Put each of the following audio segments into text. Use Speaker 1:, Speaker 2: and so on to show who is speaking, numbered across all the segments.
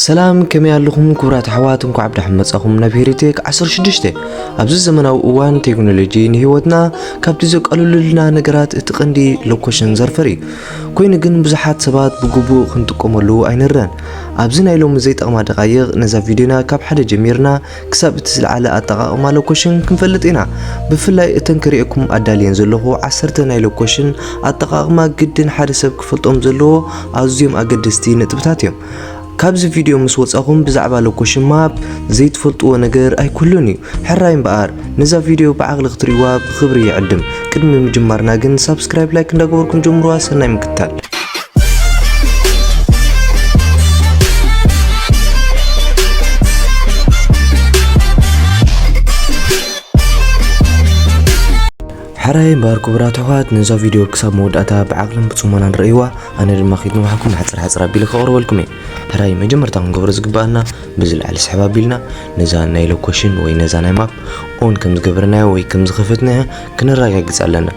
Speaker 1: ሰላም ከመይ ኣለኹም ክቡራት ኣሕዋት እንኳዕ ብዳሕም መጻኹም ናብ ሄሪቴክ 16 ኣብዚ ዘመናዊ እዋን ቴክኖሎጂ ንህይወትና ካብቲ ዘቀልሉልና ነገራት እቲ ቀንዲ ሎኮሽን ዘርፈር እዩ ኮይኑ ግን ብዙሓት ሰባት ብግቡእ ክንጥቀመሉ ኣይንረን ኣብዚ ናይ ሎሚ ዘይጠቕማ ደቃይቕ ነዛ ቪድዮና ካብ ሓደ ጀሚርና ክሳብ እቲ ዝለዓለ ኣጠቓቕማ ሎኮሽን ክንፈልጥ ኢና ብፍላይ እተን ክርእየኩም ኣዳልየን ዘለኹ ዓሰርተ ናይ ሎኮሽን ኣጠቓቕማ ግድን ሓደ ሰብ ክፈልጦም ዘለዎ ኣዝዮም ኣገደስቲ ነጥብታት እዮም ካብዚ ቪድዮ ምስ ወጻኹም ብዛዕባ ሎኮሽን ማፕ ዘይትፈልጥዎ ነገር ኣይኩሉን እዩ ሕራይ እምበኣር ነዛ ቪድዮ ብዓቕሊ ክትርእይዋ ብኽብሪ ይዕድም ቅድሚ ምጅማርና ግን ሳብስክራይብ ላይክ እንዳገበርኩም ጀምሩዋ ሰናይ ምክታል ሐራይ እምበኣር ክቡራት ኣሕዋት ነዛ ቪድዮ ክሳብ መወዳእታ ብዓቕልን ብጽሞናን ርእይዋ፣ ኣነ ድማ ከይትንውሓኩም ሓጽር ሓጽር ኣቢለ ከቕርበልኩም እየ። ሕራይ መጀመርታ ክንገብሮ ዝግበኣና በዚ ላዕሊ ስሕብ ኣቢልና ነዛ ናይ ሎኮሽን ወይ ነዛ ናይ ማፕ ኦን ከም ዝገበርናያ ወይ ከም ዝኸፈትናያ ክነራጋግጽ ኣለና።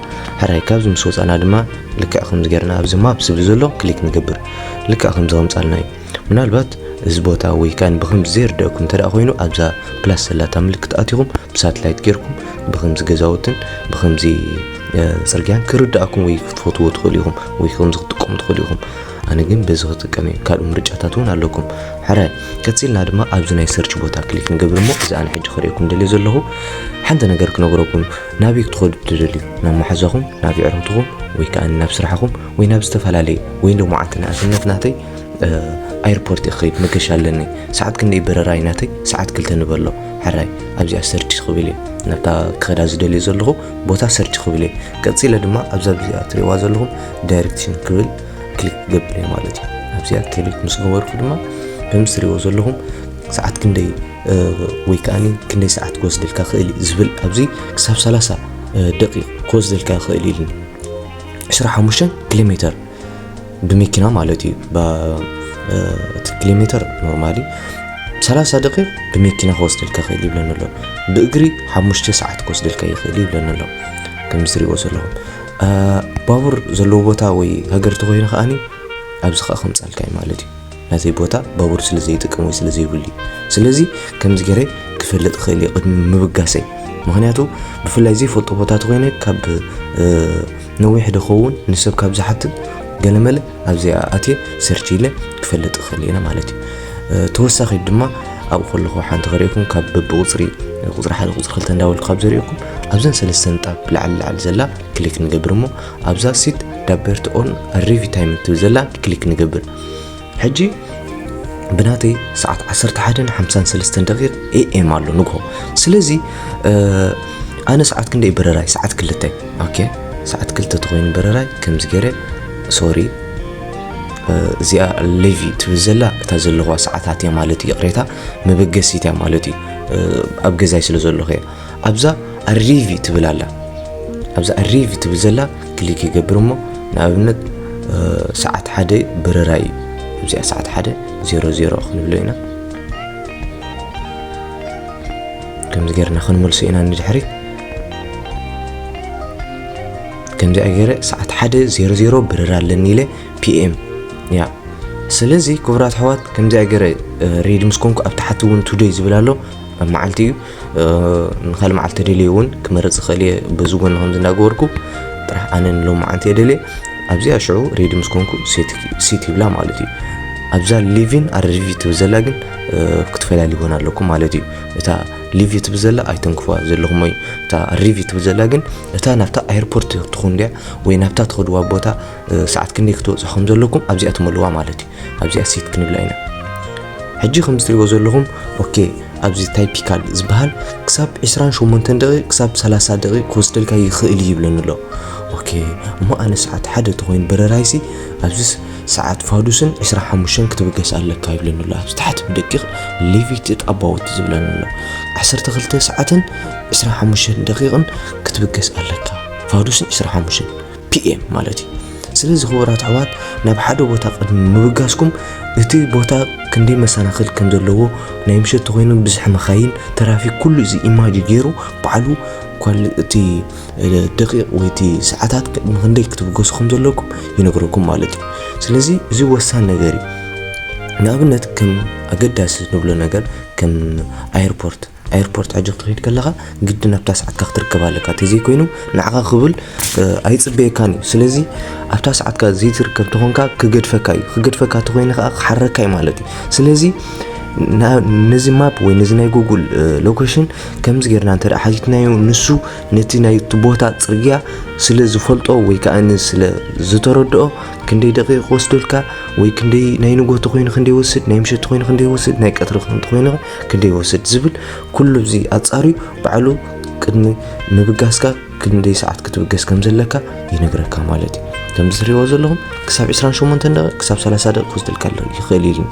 Speaker 1: ሕራይ ካብዚ ምስ ወጻእና ድማ ልክዕ ከምዚ ጌርና ኣብዚ ማፕ ዝብል ዘሎ ክሊክ ንገብር። ልክዕ ከምዚ ከምጻልና እዩ። ምናልባት እዚ ቦታ ወይ ካን ብክምዚ ዘይርደኩም እንተ ኮይኑ ኣብዛ ፕላስ ዘላታ ምልክት ኣትኹም ብሳትላይት ጌርኩም ብክምዚ ገዛውትን ብክምዚ ፅርግያን ክርዳእኩም ወይ ክትፈትዎ ትኽእሉ ኢኹም ወይ ከምዚ ክትጥቀሙ ትኽእሉ ኢኹም ኣነ ግን በዚ ክጥቀም እዩ ካልእ ምርጫታት እውን ኣለኩም ሕረ ቀፂልና ድማ ኣብዚ ናይ ሰርች ቦታ ክሊክ ንገብር እሞ እዚ ኣነ ሕጂ ክርእየኩም ደልዮ ዘለኹ ሓንቲ ነገር ክነግረኩም ናበይ ክትኸዱ ትደልዩ ናብ መሓዛኹም ናብ ይዕረትኹም ወይ ከዓ ናብ ስራሕኹም ወይ ናብ ዝተፈላለዩ ወይ ሎማዓንቲ ንእስነት ናተይ ኣይርፖርት እየ ክኸይድ መገሻ ኣለኒ ሰዓት ክንደይ በረራ እዩ ናተይ ሰዓት ክልተ ንበሎ ሕራይ ኣብዚኣ ሰርች ክብል እየ ናብታ ክኸዳ ዝደልዩ ዘለኹ ቦታ ሰርች ክብል እየ ቀፂለ ድማ ኣብዛ ብዚኣ ትሪእዋ ዘለኹም ዳይሬክሽን ክብል ክሊክ ክገብር እየ ማለት እዩ ኣብዚኣ ክሊክ ምስ ገበርኩ ድማ ከምዚ ትሪእዎ ዘለኹም ሰዓት ክንደይ ወይ ከዓኒ ክንደይ ሰዓት ክወስደልካ ክእል እዩ ዝብል ኣብዚ ክሳብ 30 ደቂቕ ክወስደልካ ክእል ኢሉኒ 25 ኪሎ ሜተር ብመኪና ማለት እዩ እቲ ኪሎ ሜትር ኖርማሊ 30 ደቂቕ ብመኪና ክወስደልካ ይኽእል ይብለኒ ኣሎ ብእግሪ ሓሙሽተ ሰዓት ክወስደልካ ይኽእል ይብለኒ ኣሎ ከምዚ ትሪእዎ ዘለኹም ባቡር ዘለዎ ቦታ ወይ ሃገር ተኮይኑ ከዓኒ ኣብዚ ከዓ ከምፃልካ እዩ ማለት እዩ ናተይ ቦታ ባቡር ስለ ዘይጥቀም ወይ ስለ ዘይብሉ እዩ ስለዚ ከምዚ ገይረ ክፈልጥ ይኽእል እየ ቅድሚ ምብጋሰይ ምክንያቱ ብፍላይ ዘይፈልጦ ቦታ ተኮይነ ካብ ነዊሕ ድኸውን ንሰብ ካብ ዝሓትት ገለመለ ኣብዚኣ ኣትየ ሰርች ኢለ ክፈልጥ ይኽእል እየ ማለት እዩ ተወሳኺ ድማ ኣብኡ ከለኹ ሓንቲ ከሪእኩም ካብ በብቁፅሪ ቁፅሪ ሓደ ቁፅሪ ክልተ እንዳበልኩ ካብ ዘሪእኩም ኣብዘን ሰለስተ ንጣብ ላዕሊ ላዕሊ ዘላ ክሊክ ንገብር እሞ ኣብዛ ሲት ዳበርቲ ኦን ኣሪቪ ታይም ትብል ዘላ ክሊክ ንገብር ሕጂ ብናተይ ሰዓት 11:53 ኤኤም ኣሎ ንግሆ ስለዚ ኣነ ሰዓት ክንደይ በረራይ ሰዓት ክልተ ኦኬ ሰዓት ክልተ ተኮይኑ በረራይ ከምዚ ገይረ ሶሪ እዚኣ ሌቪ ትብል ዘላ እታ ዘለዋ ሰዓታት እያ ማለት እዩ ይቕሬታ መበገሲት እያ ማለት እዩ ኣብ ገዛይ ስለ ዘለኹ እያ ኣብዛ ኣሪቪ ትብል ኣላ ኣብዛ ኣሪቪ ትብል ዘላ ክሊክ ይገብር እሞ ንኣብነት ሰዓት ሓደ ብረራ እዩ እዚኣ ሰዓት ሓደ ዜሮ ዜሮ ክንብሎ ኢና ከምዚ ጌርና ክንመልሶ ኢና ንድሕሪ ከምዚ ገይረ ሰዓት ሓደ ዜሮ ዜሮ ብረራ ኣለኒ ኢለ ፒኤም ያ ስለዚ ክቡራት ኣሕዋት ከምዚ ገይረ ሬድ ምስ ኮንኩ ኣብ ታሕቲ እውን ቱደይ ዝብል ኣሎ ኣብ መዓልቲ እዩ ንካልእ መዓልቲ ተደልየ እውን ክመርፅ ይኽእል እየ በዚ ጎኒ ከምዚ እንዳገበርኩ ጥራሕ ኣነ ንሎማዓንቲ እየ ደልየ ኣብዚኣ ሽዑ ሬዲ ምስ ኮንኩ ሲት ይብላ ማለት እዩ ኣብዛ ሊቪን ኣረቪ ትብል ዘላ ግን ክትፈላልይዎን ኣለኩም ማለት እዩ እታ ሊቪ ትብል ዘላ ኣይተንክፍዋ ዘለኹም ወይ እታ ሪቪ ትብል ዘላ ግን እታ ናብታ ኤርፖርት ትኹን ድያ ወይ ናብታ ትኸድዋ ቦታ ሰዓት ክንደይ ክትወጽኡ ከም ዘለኩም ኣብዚኣ ትመልዋ ማለት እዩ ኣብዚኣ ሴት ክንብላ ኢና ሕጂ ከም ዝትሪእዎ ዘለኹም ኦኬ ኣብዚ ታይፒካል ዝበሃል ክሳብ 28 ደቂቕ ክሳብ 30 ደቂቕ ክወስደልካ ይኽእል እዩ ይብለኒ ኣሎ ኦኬ እሞ ኣነ ሰዓት ሓደ ተኮይኑ በረራይሲ ኣብዚ ሰዓት ፋዱስን 25 ክትብገስ ኣለካ ይብለኒ ኣሎ ኣብዚ ታሕቲ ብደቂቕ ሌቪት ጣባውት ዝብለኒ ኣሎ 12 ሰዓትን 25 ደቂቕን ክትብገስ ኣለካ ፋዱስን 25 ፒኤም ማለት እዩ ስለዚ ክቡራት ኣሕዋት ናብ ሓደ ቦታ ቅድሚ ምብጋስኩም እቲ ቦታ ክንደይ መሰናኽል ከም ዘለዎ ናይ ምሸት ተኮይኑ ብዝሒ መካይን ትራፊክ ኩሉ እዚ ኢማጅ ገይሩ ባዕሉ እቲ ደቂቕ ወይ እቲ ሰዓታት ቅድሚ ክንደይ ክትብገሱ ከም ዘለኩም ይነግረኩም ማለት እዩ ስለዚ እዚ ወሳኒ ነገር እዩ ንኣብነት ከም ኣገዳሲ ንብሎ ነገር ከም ኣየርፖርት ኣይርፖርት ሕጂ ክትከይድ ከለኻ ግድን ኣብታ ሰዓትካ ክትርከብ ኣለካ ተዘይኮይኑ ንዓኻ ክብል ኣይጽበየካን እዩ ስለዚ ኣብታ ሰዓትካ ዘይትርከብ ተኾንካ ክገድፈካ እዩ ክገድፈካ ተኾይኑ ከዓ ክሓረካ እዩ ማለት እዩ ስለዚ ነዚ ማፕ ወይ ነዚ ናይ ጉግል ሎኬሽን ከምዚ ጌርና እንተ ሓቲትናዮ ንሱ ነቲ ናይ ቦታ ጽርግያ ስለ ዝፈልጦ ወይ ከዓ ስለ ዝተረድኦ ክንደይ ደቂቕ ወስደልካ ወይ ክንደይ ናይ ንጎቶ ኮይኑ ክንደይ ወስድ ናይ ምሸት ኮይኑ ክንደይ ወስድ ናይ ቀትሪ ኮይኑ ክንደይ ይወስድ ዝብል ኩሉ እዚ ኣጻርዩ ባዕሉ ቅድሚ ምብጋስካ ክንደይ ሰዓት ክትብገስ ከም ዘለካ ይነግረካ ማለት እዩ ከምዚ ትሪእዎ ዘለኹም ክሳብ 28 ደቂ ክሳብ 30 ደቂ ክወስደልካ ኣሎ ይኽእል ኢልኒ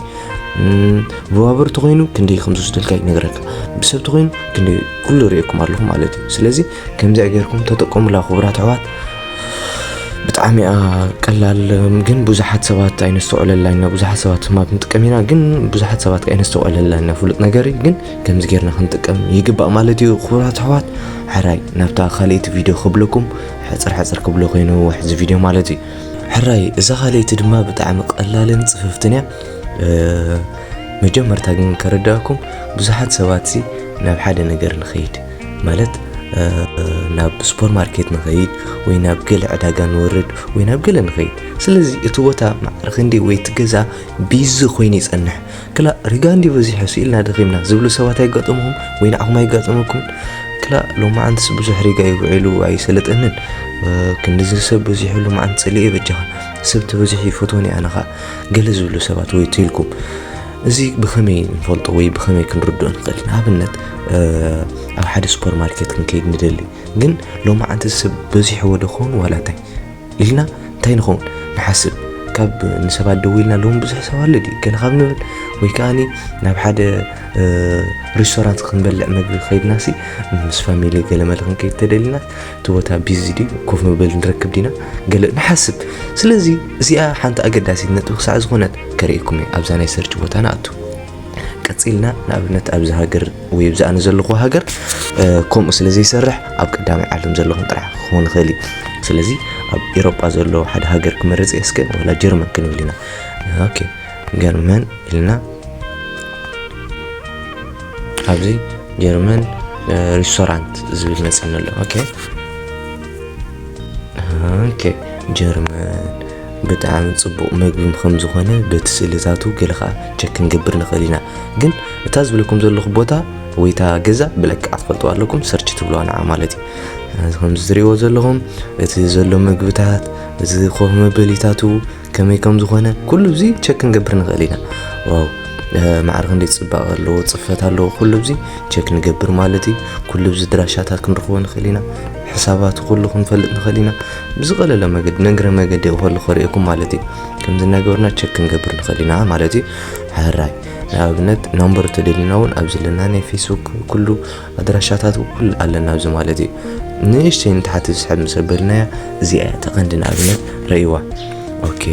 Speaker 1: ብባቡር ተኮይኑ ክንደይ ከም ዝወስደልካ ይነግረካ ብሰብ ተኮይኑ ክንደይ ኩሉ ሪእኩም ኣለኹ ማለት እዩ ስለዚ ከምዚኣ ጌርኩም ተጠቀሙላ ክቡራት ኣሕዋት ብጣዕሚ እያ ቀላል ግን ብዙሓት ሰባት ኣይነስተውዕለላ ኢና ብዙሓት ሰባት ማብ ንጥቀም ኢና ግን ብዙሓት ሰባት ኣይነስተውዕለላ ኢና ፍሉጥ ነገር እዩ ግን ከምዚ ጌርና ክንጥቀም ይግባእ ማለት እዩ ክቡራት ኣሕዋት ሕራይ ናብታ ካልእቲ ቪድዮ ክብለኩም ሕፅር ሕፅር ክብሎ ኮይኑ ውሕዚ ቪድዮ ማለት እዩ ሕራይ እዛ ካልእቲ ድማ ብጣዕሚ ቀላልን ፅፍፍትን እያ መጀመርታ ግን ከረዳእኩም ብዙሓት ሰባት ናብ ሓደ ነገር ንኸይድ ማለት ናብ ሱፐር ማርኬት ንኸይድ ወይ ናብ ገለ ዕዳጋ ንወርድ ወይ ናብ ገለ ንኸይድ ስለዚ እቲ ቦታ ማዕረ ክንዲ ወይ እቲ ገዛ ቢዚ ኮይኑ ይጸንሕ ክላእ ሪጋ እንዲ በዚሑ ስኢልና ደኺምና ዝብሉ ሰባት ኣይጋጠምኹም ወይ ንዓኹም ኣይጋጠመኩም ክላእ ሎማዓንትስ ብዙሕ ሪጋ እዩ ውዒሉ ኣይሰለጠንን ክንዲዚ ሰብ በዚሑሉ መዓንት ጸሊኤ በጃኻ ሰብ ተበዚሑ ይፈትወኒ ኣነ ኸኣ ገለ ዝብሉ ሰባት ወይ ትልኩም እዚ ብኸመይ ንፈልጦ ወይ ብኸመይ ክንርድኦ ንኽእል ንኣብነት ኣብ ሓደ ሱፐር ማርኬት ክንከይድ ንደሊ ግን ሎማዓንቲ ሰብ በዚሕዎ ዶ ኸውን ዋላ እንታይ ኢልና እንታይ ንኸውን ንሓስብ ካብ ንሰባት ደው ኢልና ሎም ብዙሕ ሰብ ኣሎ ድዩ ገለ ካብ ንብል ወይ ከዓኒ ናብ ሓደ ሬስቶራንት ክንበልዕ መግቢ ከይድና ሲ ምስ ፋሚሊ ገለ መለ ክንከይድ ተደሊና እቲ ቦታ ቢዚ ድዩ ኮፍ መበሊ ንረክብ ዲና ገለ ንሓስብ ስለዚ እዚኣ ሓንቲ ኣገዳሲት ነጥቢ ክሳዕ ዝኾነት ከርእየኩም እየ ኣብዛ ናይ ሰርች ቦታ ንኣቱ ቀፂልና ንኣብነት ኣብዚ ሃገር ወይ ኣብዚ ኣነ ዘለኹ ሃገር ከምኡ ስለ ዘይሰርሕ ኣብ ቀዳማይ ዓለም ዘለኹም ጥራሕ ክኸውን ይኽእል እዩ ስለዚ ኣብ ኤሮጳ ዘሎ ሓደ ሃገር ክመርፅ እየ እስከ ወላ ጀርመን ክንብል ኢና ኦኬ ገርመን ኢልና ኣብዚ ጀርመን ሬስቶራንት ዝብል መፅና ኣሎ ኦኬ ኦኬ ጀርመን ብጣዕሚ ጽቡቕ መግቢ ከም ዝኾነ በቲ ስእልታቱ ገለ ከኣ ቸክ ክንገብር ንኽእል ኢና ግን እታ ዝብለኩም ዘለኹ ቦታ ወይ እታ ገዛ ብለክዓ ትፈልጥዋ ኣለኩም ሰርች ትብልዋ ንዓ ማለት እዩ እዚ ከምዚ ትርእይዎ ዘለኹም እቲ ዘሎ መግብታት እዚ ኮፍ መበሊታቱ ከመይ ከም ዝኾነ ኩሉ እዚ ቸክ ክንገብር ንኽእል ኢና ዋው ማዕረ ክንደይ ፅባቐ ኣለዎ ፅፈት ኣለዎ ኩሉ እዚ ቸክ ንገብር ማለት እዩ ኩሉ እዚ ድራሻታት ክንረኽቦ ንኽእል ኢና ሕሳባቱ ኩሉ ክንፈልጥ ንኽእል ኢና ብዝቐለለ መገዲ ነግረ መገዲ ክኸሉ ከርእየኩም ማለት እዩ ከምዚ እናገበርና ቸክ ክንገብር ንኽእል ኢና ማለት እዩ ሕራይ ንኣብነት ናምበር ተደሊና እውን ኣብ ዘለና ናይ ፌስቡክ ኩሉ ኣድራሻታት ኩሉ ኣለና ኣብዚ ማለት እዩ ንእሽተይ ንታሕቲ ዝስሕብ ምስ ኣበልናያ እዚኣ እያ ተቐንዲ ንኣብነት ረእይዋ ኦኬ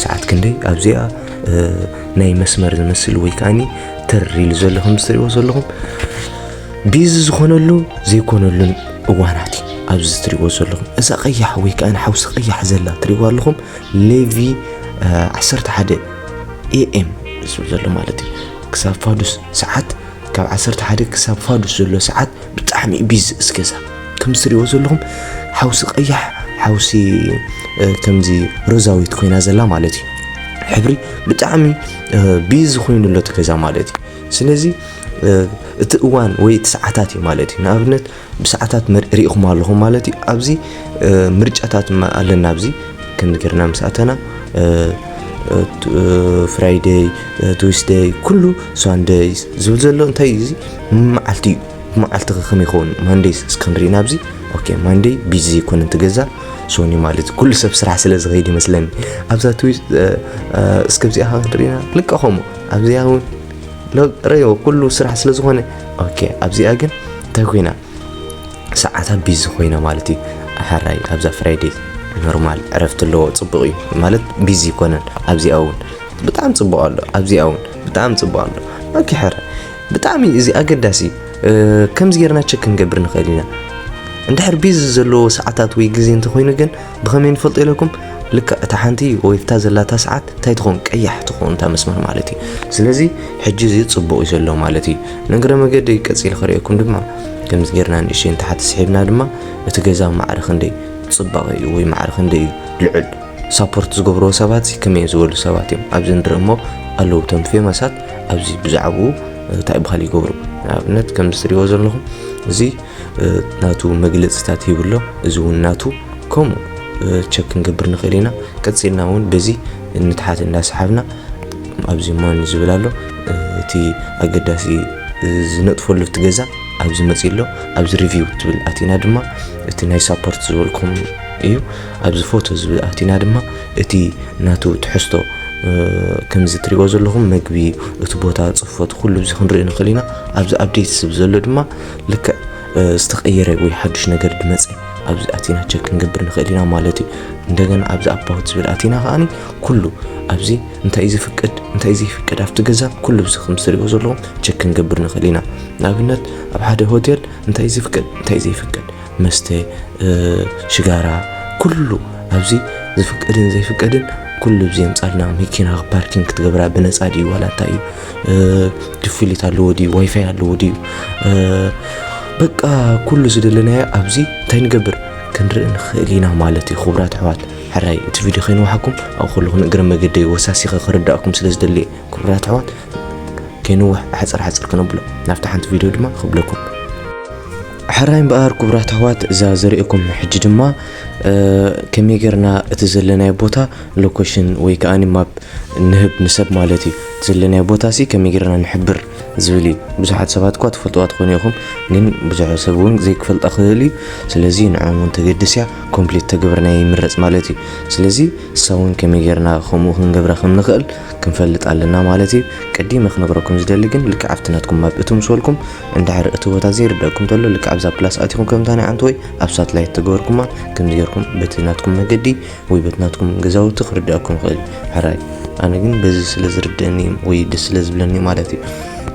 Speaker 1: ሰዓት ክንደይ ኣብዚኣ ናይ መስመር ዝመስል ወይ ከዓኒ ተር ኢሉ ዘሎ ከም ዝትሪእዎ ዘለኹም ቢዚ ዝኾነሉ ዘይኮነሉን እዋናት እዩ ኣብዚ ትሪእዎ ዘለኹም እዛ ቀያሕ ወይ ከዓ ሓውሲ ቀያሕ ዘላ ትሪእዎ ኣለኹም ሌቪ 11 ኤኤም ዝብል ዘሎ ማለት እዩ ክሳብ ፋዱስ ሰዓት ካብ 11 ክሳብ ፋዱስ ዘሎ ሰዓት ብጣዕሚ እዩ ቢዚ እዚ ገዛ ከም ዝትሪእዎ ዘለኹም ሓውሲ ቀያሕ ሓውሲ ከምዚ ሮዛዊት ኮይና ዘላ ማለት እዩ ሕብሪ ብጣዕሚ ቢዚ ኮይኑ ኣሎ እቲ ገዛ ማለት እዩ ስለዚ እቲ እዋን ወይ እቲ ሰዓታት እዩ ማለት እዩ ንኣብነት ብሰዓታት ርኢኹም ኣለኹም ማለት እዩ ኣብዚ ምርጫታት ኣለና ኣብዚ ከምዚ ጌርና ምስ ኣተና ፍራይደይ ትዊስደይ ኩሉ ሳንደይ ዝብል ዘሎ እንታይ እዩ እዚ መዓልቲ እዩ መዓልቲ ከከም ይኸውን ማንደይ እስክንርኢ ናብዚ ኦኬ ማንደይ ቢዚ ዘይኮነ ትገዛ ሶኒ ማለት ኩሉ ሰብ ስራሕ ስለ ዝኸይድ ይመስለኒ ኣብዛ ትዊስ እስከብዚኣ ክንሪኢና ልቀኸሞ ኣብዚኣ እውን ረዮ ኩሉ ስራሕ ስለ ዝኾነ ኦኬ ኣብዚኣ ግን እንታይ ኮይና ሰዓታ ቢዚ ኮይና ማለት እዩ ሓራይ ኣብዛ ፍራይዴ ኖርማል ዕረፍቲ ኣለዎ ፅቡቅ እዩ ማለት ቢዚ ይኮነን ኣብዚኣ እውን ብጣዕሚ ፅቡቅ ኣሎ ኣብዚኣ እውን ብጣዕሚ ፅቡቅ ኣሎ ኦኬ ሕረ ብጣዕሚ እዚ ኣገዳሲ ከምዚ ጌርና ቸክ ክንገብር ንኽእል ኢና እንድሕር ቢዚ ዘለዎ ሰዓታት ወይ ግዜ እንተኮይኑ ግን ብኸመይ ንፈልጦ ኢለኩም ልክዕ እታ ሓንቲ ወይፍታ ዘላታ ሰዓት እንታይ ትኸውን ቀያሕ ትኸውን እታ መስመር ማለት እዩ ስለዚ ሕጂ እዚ ፅቡቕ እዩ ዘሎ ማለት እዩ ንእግረ መገዲ ቀፂል ክርእየኩም ድማ ከምዚ ጌርና ንእሽተይ ንታሕቲ ስሒብና ድማ እቲ ገዛ ማዕረ ክንደይ ፅባቐ እዩ ወይ ማዕረ ክንደይ እዩ ልዑል ሳፖርት ዝገብርዎ ሰባት ከመይ ዝበሉ ሰባት እዮም ኣብዚ ንርኢ እሞ ኣለዉ እቶም ፌመሳት ኣብዚ ብዛዕባኡ እንታይ ብካል ይገብሩ ንኣብነት ከምዚ ትሪእዎ ዘለኹም እዚ ናቱ መግለጽታት ሂቡ ኣሎ እዚ እውን ናቱ ከምኡ ቸክ ክንገብር ንኽእል ኢና ቀፂልና እውን በዚ ንትሓት እንዳሰሓብና ኣብዚ ሞን ዝብል ኣሎ እቲ ኣገዳሲ ዝነጥፈሉ እቲ ገዛ ኣብዚ መፂ ኣሎ ኣብዚ ሪቪው ትብል ኣቲና ድማ እቲ ናይ ሳፖርት ዝበልኩም እዩ ኣብዚ ፎቶ ዝብል ኣቲና ድማ እቲ ናቱ ትሕዝቶ ከምዚ ትሪእዎ ዘለኹም መግቢ እቲ ቦታ ፅፈቱ ኩሉ እዚ ክንርኢ ንኽእል ኢና ኣብዚ ኣብዴት ስብ ዘሎ ድማ ልክዕ ዝተቀየረ ወይ ሓዱሽ ነገር ድመፀ ኣብዚ ኣቲና ቸክ ክንገብር ንኽእል ኢና ማለት እዩ እንደገና ኣብዚ ኣባውት ዝብል ኣቲና ከዓኒ ኩሉ ኣብዚ እንታይ እዩ ዝፍቅድ እንታይ እዩ ዘይፍቅድ ኣብቲ ገዛ ኩሉ ብዚ ከም ዝትሪእዎ ዘለኹም ቸክ ክንገብር ንኽእል ኢና ንኣብነት ኣብ ሓደ ሆቴል እንታይ እዩ ዝፍቅድ እንታይ እዩ ዘይፍቅድ መስተ ሽጋራ ኩሉ ኣብዚ ዝፍቀድን ዘይፍቀድን ኩሉ ብዚ የምፃልና መኪና ፓርኪንግ ክትገብራ ብነፃ ድዩ ዋላ እንታይ እዩ ክፍሊት ኣለዎ ድዩ ዋይፋይ ኣለዎ ድዩ በቃ ኩሉ ዝደለናዮ ኣብዚ እንታይ ንገብር ክንርኢ ንኽእል ኢና ማለት እዩ ክቡራት ኣሕዋት ሕራይ እቲ ቪድዮ ከይንዋሓኩም ኣብ ከለኹ ንእግረ መገደ ወሳሲኸ ክርዳእኩም ስለ ዝደልየ ክቡራት ኣሕዋት ከይንዋሕ ሓፀር ሓፀር ክነብሎ ናብቲ ሓንቲ ቪድዮ ድማ ክብለኩም ሕራይ እምበኣር ክቡራት ኣሕዋት እዛ ዘርእየኩም ሕጂ ድማ ከመይ ጌርና እቲ ዘለናዮ ቦታ ሎኬሽን ወይ ከኣ ማፕ ንህብ ንሰብ ማለት እዩ እቲ ዘለናዮ ቦታ ሲ ከመይ ጌርና ንሕብር ዝብል እዩ ብዙሓት ሰባት እኳ ትፈልጥዋ ትኾኑ ኢኹም ግን ብዙሕ ሰብ እውን ዘይክፈልጣ ክህል እዩ ስለዚ ንዕኦም እውን ተገድስ እያ ኮምፕሊት ተገብርናዮ ይምረፅ ማለት እዩ ስለዚ እሳ እውን ከመይ ጌርና ከምኡ ክንገብራ ከም ንኽእል ክንፈልጥ ኣለና ማለት እዩ ቀዲመ ክነግረኩም ዝደሊ ግን ልክዕ ኣብቲ ናትኩም ማፕ እትምስወልኩም እንድሕር እቲ ቦታ ዘይርደኣኩም ተሎ ልክዕ ኣብዛ ፕላስ ኣቲኩም ከምታ ናይ ኣንተ ወይ ኣብ ሳትላይት ተገበርኩማ ከምዚ ገርኩም በቲ ናትኩም መገዲ ወይ በቲ ናትኩም ገዛውቲ ክርደኣኩም ይኽእል ሕራይ ኣነ ግን በዚ ስለ ዝርደእኒ ወይ ደስ ስለ ዝብለኒ ማለት እዩ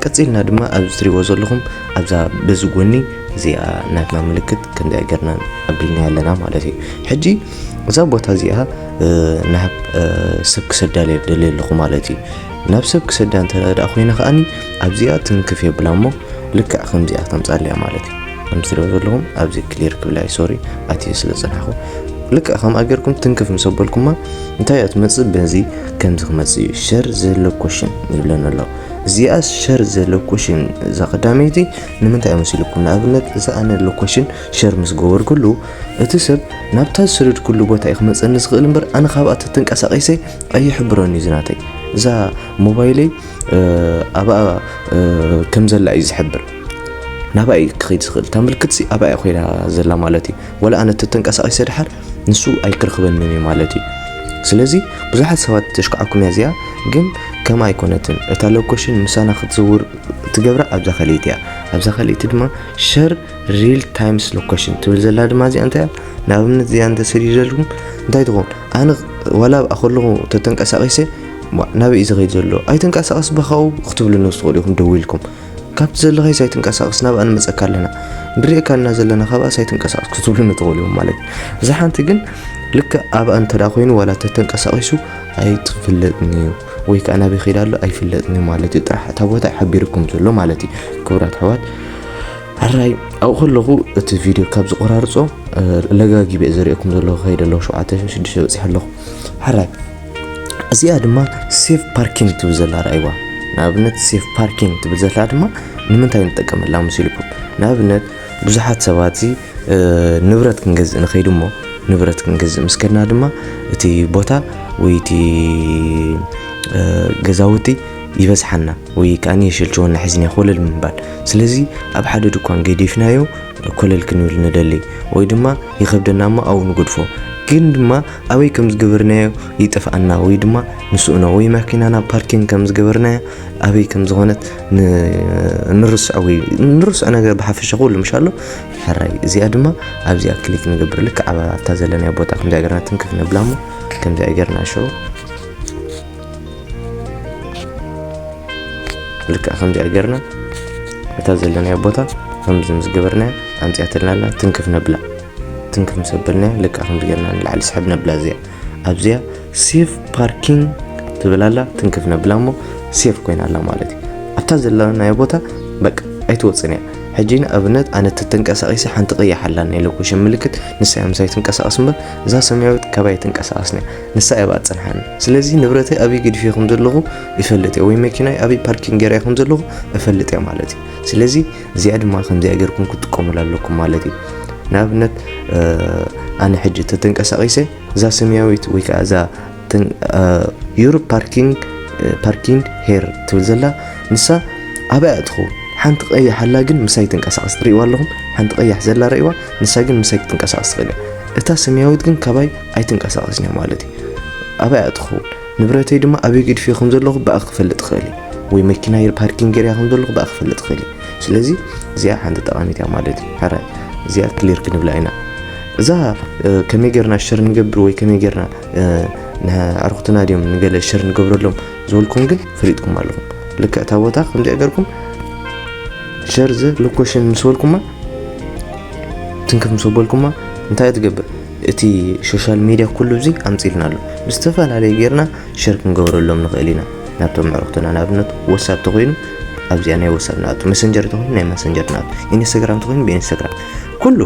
Speaker 1: ቀጺልና ድማ ኣብዚ ትሪእዎ ዘለኹም ኣብዛ በዚ ጎኒ እዚኣ ናትና ምልክት ከምዚ ገርና ኣቢልና ኣለና ማለት እዩ ሕጂ እዛ ቦታ እዚኣ ናብ ሰብ ክሰዳ ደልየ ኣለኹ ማለት እዩ ናብ ሰብ ክሰዳ እንተ ደኣ ኮይነ ከኣኒ ኣብዚኣ ትንክፍ የብላ እሞ ልክዕ ከምዚኣ ከምፃልያ ማለት እዩ ከም ትሪኦ ዘለኹም ኣብዚ ክሊር ክብላይ ሶሪ ኣትየ ስለ ዝፀናኹ ልክዕ ከምኣ ጌርኩም ትንክፍ ምስ ኣበልኩማ እንታይ እያ ትመፅእ በዚ ከምዚ ክመፅእ እዩ ሸር ዘሎኮሽን ይብለን ኣሎ እዚኣ ሸር ዘሎኮሽን እዛ ቀዳመይቲ ንምንታይ መሲልኩም ንኣብነት እዛ ኣነ ሎኮሽን ሸር ምስ ገበርኩሉ እቲ ሰብ ናብታ ዝሰደድኩሉ ቦታ እዩ ክመፀኒ ዝኽእል እምበር ኣነ ካብኣ ተተንቀሳቂሰ ኣይሕብረን እዩ ዝናተይ እዛ ሞባይለይ ኣብኣ ከም ዘላ እዩ ዝሕብር ናብኣ እዩ ክኸይድ ዝኽእል እታ ምልክት ሲ ኣብኣ ኮይና ዘላ ማለት እዩ ወላ ኣነ ተተንቀሳቒሰ ድሓር ንሱ ኣይክረኽበንን እዩ ማለት እዩ ስለዚ ብዙሓት ሰባት ተሽከዓኩም እያ እዚኣ ግን ከም ኣይኮነትን እታ ሎኮሽን ምሳና ክትዝውር ትገብራ ኣብዛ ካልኢት እያ ኣብዛ ካልኢት ድማ ሸር ሪል ታይምስ ሎኮሽን ትብል ዘላ ድማ እዚኣ እንታይ እያ ንኣብነት እዚኣ እንተሰዲደልኩም እንታይ ትኸውን ኣነ ዋላ ኣብኣ ከለኹ ተተንቀሳቒሰ እሞ ናበይ እዩ ዝኸይድ ዘሎ ኣይትንቀሳቐስ ብኻኡ ክትብሉኒ ክትኽእሉ ኢኹም ደዊልኩም ካብቲ ዘለኻይስ ኣይትንቀሳቐስ ናብኣ ንመፀካ ኣለና ንሪእካ እና ዘለና ካብኣስ ኣይትንቀሳቐስ ክትብሉኒ ትኽእሉ ኢኹም ማለት እዩ እዛ ሓንቲ ግን ልክዕ ኣብኣ እንተዳ ኮይኑ ዋላ ተተንቀሳቒሱ ኣይትፍለጥን እዩ ወይ ከዓ ናበይ ከይዳ ኣሎ ኣይፍለጥን እዩ ማለት እዩ ጥራሕ እታ ቦታ ሓቢርኩም ዘሎ ማለት እዩ ክብራት ኣሕዋት ሕራይ ኣብኡ ከለኹ እቲ ቪድዮ ካብ ዝቆራርፆ ለጋጊበ ዝርእየኩም ዘለኹ ከይደ ኣለኹ ሸውዓተ ሽዱሽተ በፂሐ ኣለኹ ሕራይ እዚኣ ድማ ሴፍ ፓርኪንግ ትብል ዘላ ርኣይዋ ንኣብነት ሴፍ ፓርኪንግ ትብል ዘላ ድማ ንምንታይ ንጠቀመላ መሲልኩም ንኣብነት ብዙሓት ሰባት እዚ ንብረት ክንገዝእ ንኸይድ እሞ ንብረት ክንገዝእ ምስ ከድና ድማ እቲ ቦታ ወይ እቲ ገዛውቲ ይበዝሓና ወይ ከዓኒ የሸልችወና ሒዝና ኮለል ምባል ስለዚ ኣብ ሓደ ድኳን ገዲፍናዮ ኮለል ክንብል ንደሊ ወይ ድማ ይኸብደና እሞ ኣብኡ ንጉድፎ ግን ድማ ኣበይ ከም ዝገበርናዮ ይጠፍኣና ወይ ድማ ንስእኖ ወይ መኪናና ፓርኪንግ ከም ዝገበርናዮ ኣበይ ከም ዝኾነት ንርስዖ ወይ ንርስዖ ነገር ብሓፈሻ ኩሉ ምሻሎ ሕራይ እዚኣ ድማ ኣብዚኣ ክሊክ ንገብር ልክ ኣብ ኣብታ ዘለናዮ ቦታ ከምዚኣ ገርና ትንክፍ ንብላ እሞ ከምዚኣ ገርና ሸው ልክዕ ከምዚኣ ገርና እታ ዘለናዮ ቦታ ከምዚ ምስ ገበርናዮ ኣምፅኣትልና ኣላ ትንክፍ ነብላ ትንክፍ ምስ ኣበልና ልክዕ ከምዚ ጌርና ንላዕሊ ስሕብ ነብላ እዚኣ ኣብዚኣ ሴፍ ፓርኪንግ ትብል ኣላ ትንክፍ ነብላ እሞ ሴፍ ኮይና ኣላ ማለት እዩ ኣብታ ዘለናዮ ቦታ በቃ ኣይትወፅን እያ ሕጂ ንኣብነት ኣነ ተተንቀሳቂሰ ሓንቲ ቅያሕ ኣላኒ ኢለ ኩሽን ምልክት ንሳ እያ ምሳይ ትንቀሳቀስ እምበር እዛ ሰማያዊት ካባይ ትንቀሳቀስኒ እያ ንሳ እያ ባኣ ፅንሓኒ ስለዚ ንብረተይ ኣብይ ግድፊ ከም ዘለኹ ይፈልጥ እየ ወይ መኪናይ ኣብይ ፓርኪንግ ገይራይ ከም ዘለኹ እፈልጥ እየ ማለት እዩ ስለዚ እዚኣ ድማ ከምዚኣ ጌርኩም ክትጥቀሙላ ኣለኩም ማለት እዩ ንኣብነት ኣነ ሕጂ ተተንቀሳቂሰ እዛ ሰማያዊት ወይ ከዓ እዛ ዩር ፓርኪንግ ፓርኪንግ ሄር ትብል ዘላ ንሳ ኣበይ እያ ትኸውን ሓንቲ ቀያሕ ኣላ ግን ምሳይ ትንቀሳቀስ ትርእይዋ ኣለኹም ሓንቲ ቀያሕ ዘላ ረእይዋ ንሳ ግን ምሳይ ክትንቀሳቀስ ትኽእል እያ እታ ሰማያዊት ግን ካባይ ኣይትንቀሳቀስን እያ ማለት እዩ ኣበይ እያ ትኸውን ንብረተይ ድማ ኣበይ ገዲፈዮ ከም ዘለኹ ብኣ ክፈልጥ ይኽእል እየ ወይ መኪናይ ኣብ ፓርኪንግ ገይረያ ከም ዘለኹ ብኣ ክፈልጥ ይኽእል እየ ስለዚ እዚኣ ሓንቲ ጠቓሚት እያ ማለት እዩ ሕራይ እዚኣ ክሊር ክንብላ ኢና እዛ ከመይ ጌርና ሸር ንገብር ወይ ከመይ ጌርና ንኣርኩትና ድዮም ንገለ ሸር ንገብረሎም ዝበልኩም ግን ፈሊጥኩም ኣለኹም ልክዕ እታ ቦታ ከምዚኣ ገርኩም ሸር ዘ ሎኮሽን ምስ በልኩማ ትንክፍ ምስ በልኩማ እንታይ ትገብር እቲ ሾሻል ሚድያ ኩሉ እዚ ኣምጺልና ኣሎ ብዝተፈላለዩ ጌርና ሸር ክንገብረሎም ንኽእል ኢና ናብቶም ኣዕሩኽትና ንኣብነት ወሳብ ተኾይኑ ኣብዚኣ ናይ ወሳብ ንኣቱ መሰንጀር ተኾይኑ ናይ መሰንጀር ንኣቱ ኢንስታግራም ተኾይኑ ብኢንስታግራም ኩሉ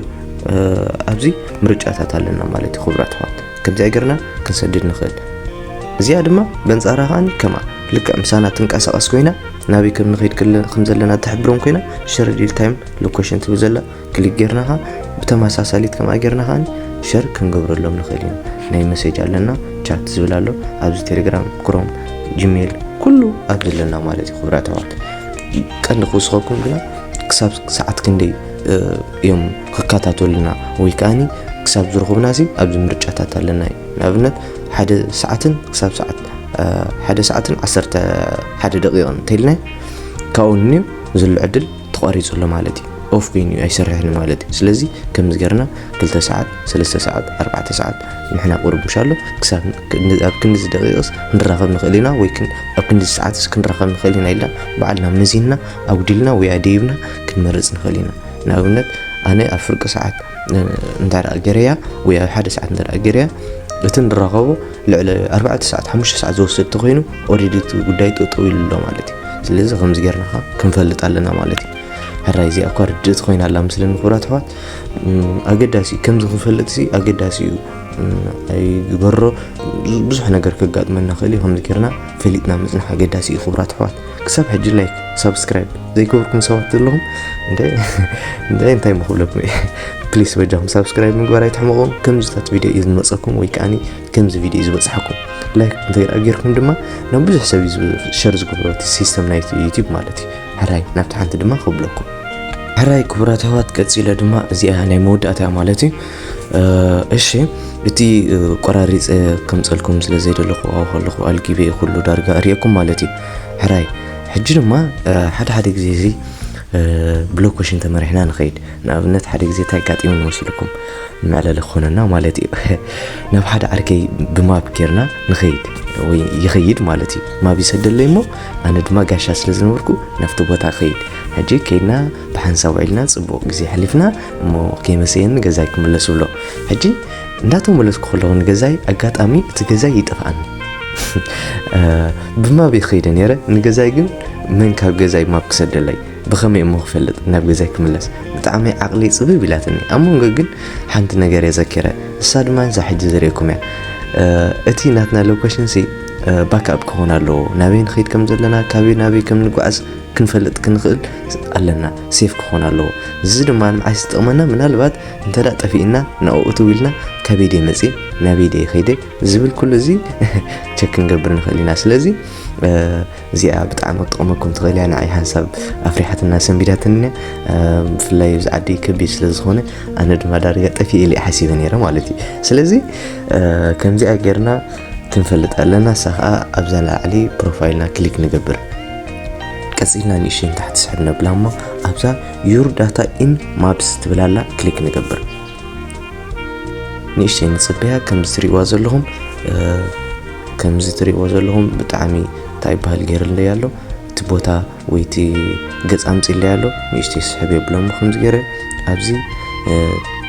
Speaker 1: ኣብዚ ምርጫታት ኣለና ማለት እዩ ክቡራት ኣሕዋት ከምዚኣ ጌርና ክንሰድድ ንኽእል እዚኣ ድማ በንጻራ ከዓኒ ከምኣ ልክዕ ምሳና ትንቀሳቐስ ኮይና ናበይ ከም ንኸይድ ከም ዘለና ትሕብሮም ኮይና ሸረዲል ታይም ሎኬሽን ትብል ዘላ ክሊክ ጌርና ከኣ ብተመሳሳሊት ከምኣ ጌርና ከኣ ሸር ክንገብረሎም ንኽእል ኢና ናይ መሴጅ ኣለና ቻት ዝብል ኣሎ ኣብዚ ቴሌግራም ክሮም ጂሜል ኩሉ ኣብዚ ኣለና ማለት እዩ ክብራት ኣሕዋት ቀንዲ ክውስኸኩም ግና ክሳብ ሰዓት ክንደይ እዮም ክከታተሉና ወይ ከዓኒ ክሳብ ዝረኽቡና ሲ ኣብዚ ምርጫታት ኣለና እዩ ንኣብነት ሓደ ሰዓትን ክሳብ ሰዓት ሓደ ሰዓትን ዓሰርተ ሓደ ደቂቕን እንተኢልና ካብኡ ንንዮ ዝሉ ዕድል ተቋሪጹ ኣሎ ማለት እዩ ኦፍ ኮይኑ እዩ ኣይሰርሕን ማለት እዩ ስለዚ ከምዚ ገርና ክልተ ሰዓት ሰለስተ ሰዓት ኣርባዕተ ሰዓት ንሕና ቁርቡሽ ኣሎ ክሳብ ኣብ ክንዲ ደቂቕስ ክንራኸብ ንኽእል ኢና ወይ ኣብ ክንዲ ሰዓትስ ክንራኸብ ንኽእል ኢና ኢልና ባዕልና መዚንና ኣጉዲልና ወይ ኣደይብና ክንመርፅ ንኽእል ኢና ንኣብነት ኣነ ኣብ ፍርቂ ሰዓት እንተ ገረያ ወይ ኣብ ሓደ ሰዓት እንተ ገረያ እቲ ንራኸቦ ልዕሊ ኣርባዕተ ሰዓት ሓሙሽተ ሰዓት ዝወስድ ተኮይኑ ኦሬዲ እቲ ጉዳይ ጠጠው ኢሉ ኣሎ ማለት እዩ ስለዚ ከምዚ ጌርና ከ ክንፈልጥ ኣለና ማለት እዩ ሕራይ እዚኣ እኳ ርድእቲ ኮይና ኣላ ምስለኒ ክብራት ኣሕዋት ኣገዳሲ እዩ ከምዚ ክንፈልጥ ሲ ኣገዳሲ እዩ ኣይግበሮ ብዙሕ ነገር ከጋጥመና ክእል እዩ ከምዚ ጌርና ፈሊጥና ምፅናሕ ኣገዳሲ እዩ ክብራት ኣሕዋት ክሳብ ሕጂ ላይክ ሳብስክራይብ ዘይገበርኩም ሰባት ዘለኹም እንታይ እንታይ እንታይ ምክብለኩም እየ ፕሊስ በጃኹም ሳብስክራይብ ምግባር ኣይትሕመቑ ከምዚታት ቪድዮ እዩ ዝመፀኩም ወይ ከዓኒ ከምዚ ቪድዮ እዩ ዝበፅሓኩም ላይክ እንተይረኣ ጌርኩም ድማ ናብ ብዙሕ ሰብ እዩ ሸር ዝገብሮ እቲ ሲስተም ናይ ዩቲብ ማለት እዩ ሕራይ ናብቲ ሓንቲ ድማ ክብለኩም ሕራይ ክቡራት ኣሕዋት ቀፂለ ድማ እዚኣ ናይ መወዳእታ እያ ማለት እዩ እሺ እቲ ቆራሪፀ ከምፀልኩም ስለ ዘይደለኹ ኣብኡ ከለኹ ኣልጊበ ኩሉ ዳርጋ እሪኤኩም ማለት እዩ ሕራይ ሕጂ ድማ ሓደ ሓደ ግዜ እዚ ብሎኮሽን ተመሪሕና ንኸይድ ንኣብነት ሓደ ግዜ እንታይ ኣጋጢሙ ንመስልኩም መዕለሊ ክኾነና ማለት እዩ ናብ ሓደ ዓርከይ ብማብ ጌርና ንኸይድ ወይ ይኸይድ ማለት እዩ ማብ ይሰደለይ እሞ ኣነ ድማ ጋሻ ስለ ዝነበርኩ ናብቲ ቦታ ኸይድ ሕጂ ከይድና ብሓንሳብ ውዒልና ፅቡቕ ግዜ ሕሊፍና እሞ ከይመሰየኒ ገዛይ ክምለስ ብሎ ሕጂ እንዳተመለስኩ ከለኹ ንገዛይ ኣጋጣሚ እቲ ገዛይ ይጠፍኣኒ ብማብ ይኸይደ ነይረ ንገዛይ ግን መን ካብ ገዛይ ማብ ክሰደለይ ብኸመይ እሞ ክፈልጥ ናብ ገዛይ ክምለስ ብጣዕሚ ዓቕሊ ፅብብ ኢላትኒ ኣብ መንጎ ግን ሓንቲ ነገር እየ ዘኪረ እሳ ድማ ንሳ ሕጂ ዝርእየኩም እያ እቲ ናትና ሎኬሽን ሲ ባክኣፕ ክኾን ኣለዎ ናበይ ንኸይድ ከም ዘለና ካበይ ናበይ ከም ንጓዓዝ ክንፈልጥ ክንኽእል ኣለና ሴፍ ክኾን ኣለዎ እዚ ድማ ንምዓይ ዝጠቕመና ምናልባት እንተ ጠፊእና ናብኡ ትው ኢልና ካበይ ድየ መፅእ ናበይ ድየ ከይደ ዝብል ኩሉ እዚ ቸክ ክንገብር ንኽእል ኢና ስለዚ እዚኣ ብጣዕሚ ክትጠቕመኩም ትኽእል እያ ንዓይ ሓንሳብ ኣፍሪሓትና ሰንቢዳትኒ ብፍላይ እዚ ዓዲ ከቢድ ስለ ዝኾነ ኣነ ድማ ዳርጋ ጠፊእ ኢለ ሓሲበ ነይረ ማለት እዩ ስለዚ ከምዚኣ ጌርና ክንፈልጥ ኣለና እሳ ከዓ ኣብዛ ላዕሊ ፕሮፋይልና ክሊክ ንገብር ቀፂልና ንእሽተይ ንታሕቲ ስሕብ ነብላ እሞ ኣብዛ ዩር ዳታ ኢን ማፕስ ትብል ኣላ ክሊክ ንገብር ንእሽተይ ንፅበያ ከምዚ ትሪእዋ ዘለኹም ከምዚ ትሪእዎ ዘለኹም ብጣዕሚ እንታይ ይበሃል ገይርለይ ኣሎ እቲ ቦታ ወይ እቲ ገፅ ኣምፅለይ ኣሎ ንእሽተይ ስሕብ የብሎም ከምዚ ገይረ ኣብዚ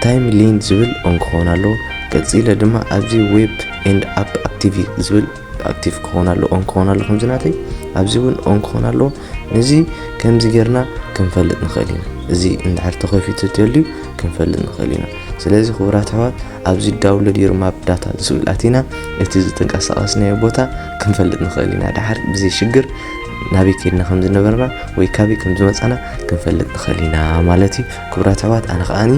Speaker 1: ታይም ሊን ዝብል ኦን ክኸውን ኣለዎ ቀፂለ ድማ ኣብዚ ዌብ ኤንድ ኣፕ ኣክቲቪ ዝብል ኣክቲቭ ክኾን ኣሎ ኦን ክኾን ኣሎ ከምዚ ናተይ ኣብዚ እውን ኦን ክኾን ኣለዎ ነዚ ከምዚ ጌርና ክንፈልጥ ንኽእል ኢና እዚ እንድሕር ተኸፊቱ ተልዩ ክንፈልጥ ንኽእል ኢና ስለዚ ክቡራት ኣሕዋት ኣብዚ ዳውንሎድ ዩር ማፕ ዳታ ዝብል ኣቲና እቲ ዝተንቀሳቐስናዮ ቦታ ክንፈልጥ ንኽእል ኢና ድሓር ብዘይ ሽግር ናበይ ከድና ከም ዝነበርና ወይ ካበይ ከም ዝመፃና ክንፈልጥ ንኽእል ኢና ማለት እዩ ክቡራት ኣሕዋት ኣነ ከዓኒ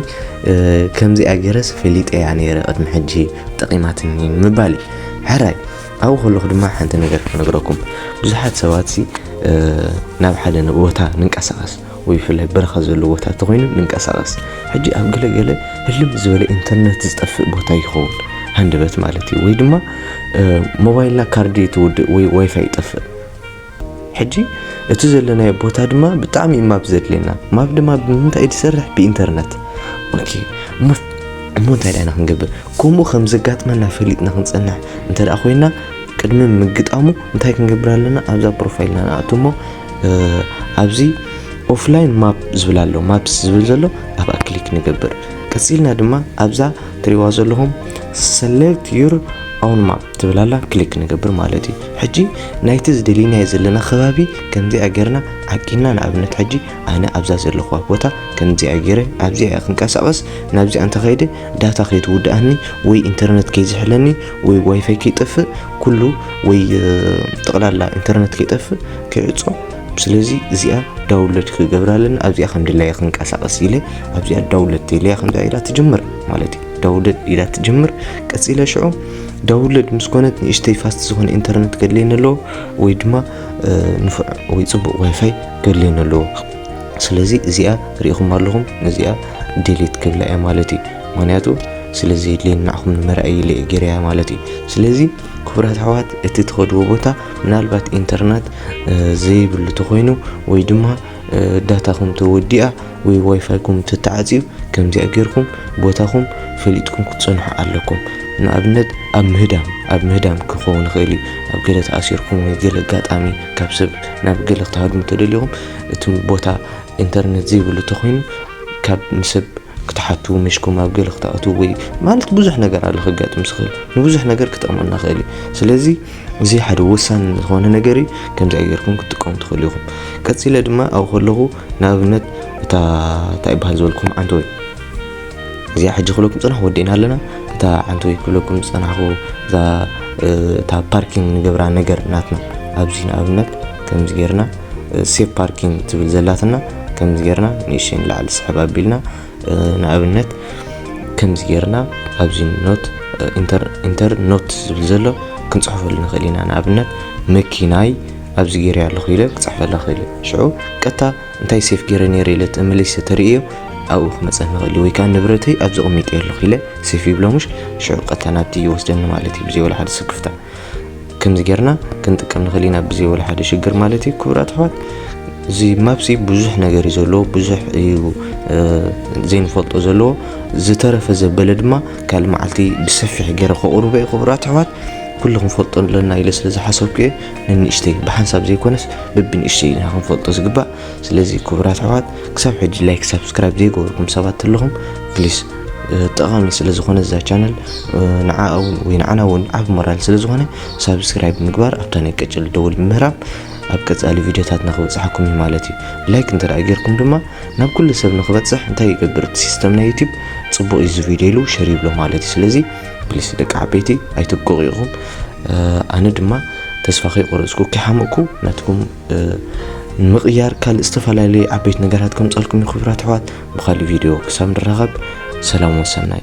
Speaker 1: ከምዚኣ ገይረስ ፈሊጠ እያ ነይረ ቅድሚ ሕጂ ጠቂማትኒ ምባል እዩ ሕራይ ኣብኡ ከለኹ ድማ ሓንቲ ነገር ክነግረኩም ብዙሓት ሰባትሲ ናብ ሓደ ቦታ ንንቀሳቐስ ወይ ብፍላይ በረኻ ዘሎ ቦታ እንተኮይኑ ንንቀሳቐስ ሕጂ ኣብ ገለገለ ህልም ዝበለ ኢንተርነት ዝጠፍእ ቦታ ይኸውን ሃንደበት ማለት እዩ ወይ ድማ ሞባይልና ካርዲ ትውድእ ወይ ዋይፋይ ይጠፍእ ሕጂ እቲ ዘለናዮ ቦታ ድማ ብጣዕሚ እዩ ማፕ ዘድልየና ማፕ ድማ ብምንታይ እዩ ዝሰርሕ ብኢንተርነት ኦኬ እሞ እሞ እንታይ ዳይና ክንገብር ከምኡ ከም ዘጋጥመና ፈሊጥና ክንፀንሕ እንተ ደኣ ኮይና ቅድሚ ምግጣሙ እንታይ ክንገብር ኣለና ኣብዛ ፕሮፋይልና ንኣቱ እሞ ኣብዚ ኦፍላይን ማፕ ዝብል ኣሎ ማፕስ ዝብል ዘሎ ኣብኣ ክሊክ ንገብር ቀፂልና ድማ ኣብዛ ትሪዋ ዘለኹም ሰሌክት ዩር ኦን ማፕ ትብል ኣላ ክሊክ ንገብር ማለት እዩ ሕጂ ናይቲ ዝደሊናዮ ዘለና ከባቢ ከምዚኣ ጌርና ዓቂንና ንኣብነት ሕጂ ኣነ ኣብዛ ዘለኹዋ ቦታ ከምዚኣ ጌረ ኣብዚኣ እየ ክንቀሳቐስ ናብዚኣ እንተኸይደ ዳታ ከይትውድኣኒ ወይ ኢንተርነት ከይዝሕለኒ ወይ ዋይፋይ ከይጠፍእ ኩሉ ወይ ጠቕላላ ኢንተርነት ከይጠፍእ ከይዕጾ ስለዚ እዚኣ ዳውንሎድ ክገብራ ኣለና ኣብዚኣ ከም ድላየ ክንቀሳቐስ ኢለ ኣብዚኣ ዳውንሎድ ኢለያ ከምዚኣ ኢላ ትጅምር ማለት እዩ ዳውንሎድ ኢላ ትጅምር ቀጺለ ሽዑ ዳውንሎድ ምስ ኮነት ንእሽተይ ፋስት ዝኾነ ኢንተርነት ገድልየኒ ኣለዎ ወይ ድማ ንፉዕ ወይ ጽቡቕ ዋይፋይ ገድልየኒ ኣለዎ ስለዚ እዚኣ ርኢኹም ኣለኹም ነዚኣ ዴሌት ክብላ እያ ማለት እዩ ምክንያቱ ስለ ዘየድልየኒ ንዓኹም ንመርኣይ ኢለ እየ ገይረያ ማለት እዩ ስለዚ ክቡራት ኣሕዋት እቲ ትኸድዎ ቦታ ምናልባት ኢንተርነት ዘይብሉ ተኾይኑ ወይ ድማ ዳታኹም ተወዲኣ ወይ ዋይፋይኩም ተተዓጽዩ ከምዚኣ ጌርኩም ቦታኹም ፈሊጥኩም ክትጸንሑ ኣለኩም። ንኣብነት ኣብ ምህዳም ኣብ ምህዳም ክኸውን ይኽእል እዩ ኣብ ገለ ተኣሲርኩም ወይ ገለ ኣጋጣሚ ካብ ሰብ ናብ ገለ ክትሃድሙ ተደሊኹም እቲ ቦታ ኢንተርነት ዘይብሉ ተኾይኑ ካብ ንሰብ ክትሓቱ ምሽኩም ኣብ ገለ ክትኣትዉ ወይ ማለት ብዙሕ ነገር ኣሎ ከጋጥም ዝኽእል ንብዙሕ ነገር ክጠቕመና ይኽእል እዩ ስለዚ እዚ ሓደ ወሳኒ ዝኾነ ነገር እዩ ከምዚ ገርኩም ክትጥቀሙ ትኽእሉ ኢኹም ቀፂለ ድማ ኣብኡ ከለኹ ንኣብነት እታ እንታይ ይበሃል ዝበልኩም ዓንተወይ እዚኣ ሕጂ ክብለኩም ፅናሕ ወዲእና ኣለና እታ ዓንተወይ ክብለኩም ዝፀናሕኩ እዛ እታ ፓርኪንግ ንገብራ ነገር ናትና ኣብዚ ንኣብነት ከምዚ ጌርና ሴፍ ፓርኪንግ ትብል ዘላትና ከምዚ ጌርና ንእሽተይ ንላዕሊ ስሕብ ኣቢልና ንኣብነት ከምዚ ጌርና ኣብዚ ኖት ኢንተር ኖት ዝብል ዘሎ ክንፅሕፈሉ ንኽእል ኢና ንኣብነት መኪናይ ኣብዚ ጌረ ኣለኹ ኢለ ክፅሕፈላ ክእል ሽዑ ቀጥታ እንታይ ሴፍ ጌረ ነይረ ኢለ ተመሊሰ ተርእዮ ኣብኡ ክመፀ ንኽእል ወይ ከዓ ንብረተይ ኣብዚ ቕሚጠ ኣለኹ ኢለ ሴፍ ይብሎ ምሽ ሽዑ ቀጥታ ናብቲ ይወስደኒ ማለት እዩ ብዘይ ወላ ሓደ ስክፍታ ከምዚ ጌርና ክንጥቀም ንኽእል ኢና ብዘይ ወላ ሓደ ሽግር ማለት እዩ ክብራት ኣሕዋት እዚ ማፕሲ ብዙሕ ነገር እዩ ዘለዎ ብዙሕ እዩ ዘይንፈልጦ ዘለዎ ዝተረፈ ዘበለ ድማ ካልእ መዓልቲ ብሰፊሕ ገይረ ከቕርቦ እዩ ክብራት ኣሕዋት ኩሉ ክንፈልጦ ኣለና ኢለ ስለ ዝሓሰብኩ እየ ንንእሽተይ ብሓንሳብ ዘይኮነስ ብብንእሽተይ ኢና ክንፈልጦ ዝግባእ ስለዚ ክብራት ኣሕዋት ክሳብ ሕጂ ላይክ ሳብስክራይብ ዘይገበርኩም ሰባት ኣለኹም ፕሊስ ጠቓሚ ስለ ዝኾነ እዛ ቻነል ንዓ እውን ወይ ንዓና እውን ዓብ ሞራል ስለ ዝኾነ ሳብስክራይብ ምግባር ኣብታ ናይ ቀጭል ደውል ምህራም ኣብ ቀጻሊ ቪድዮታትና ክበጽሓኩም እዩ ማለት እዩ ላይክ እንተ ጌርኩም ድማ ናብ ኩሉ ሰብ ንክበጽሕ እንታይ ይገብር እቲ ሲስተም ናይ ዩቲብ ጽቡቕ እዩ እዚ ቪድዮ ኢሉ ሸር ይብሎ ማለት እዩ ስለዚ ፕሊስ ደቂ ዓበይቲ ኣይትብቅቑ ኢኹም ኣነ ድማ ተስፋ ከይቆረፅኩ ከይሓመቕኩ ናትኩም ንምቕያር ካልእ ዝተፈላለዩ ዓበይቲ ነገራት ከምፀልኩም ክብራት ኣሕዋት ብካልእ ቪድዮ ክሳብ ንራኸብ ሰላም ወሰናይ።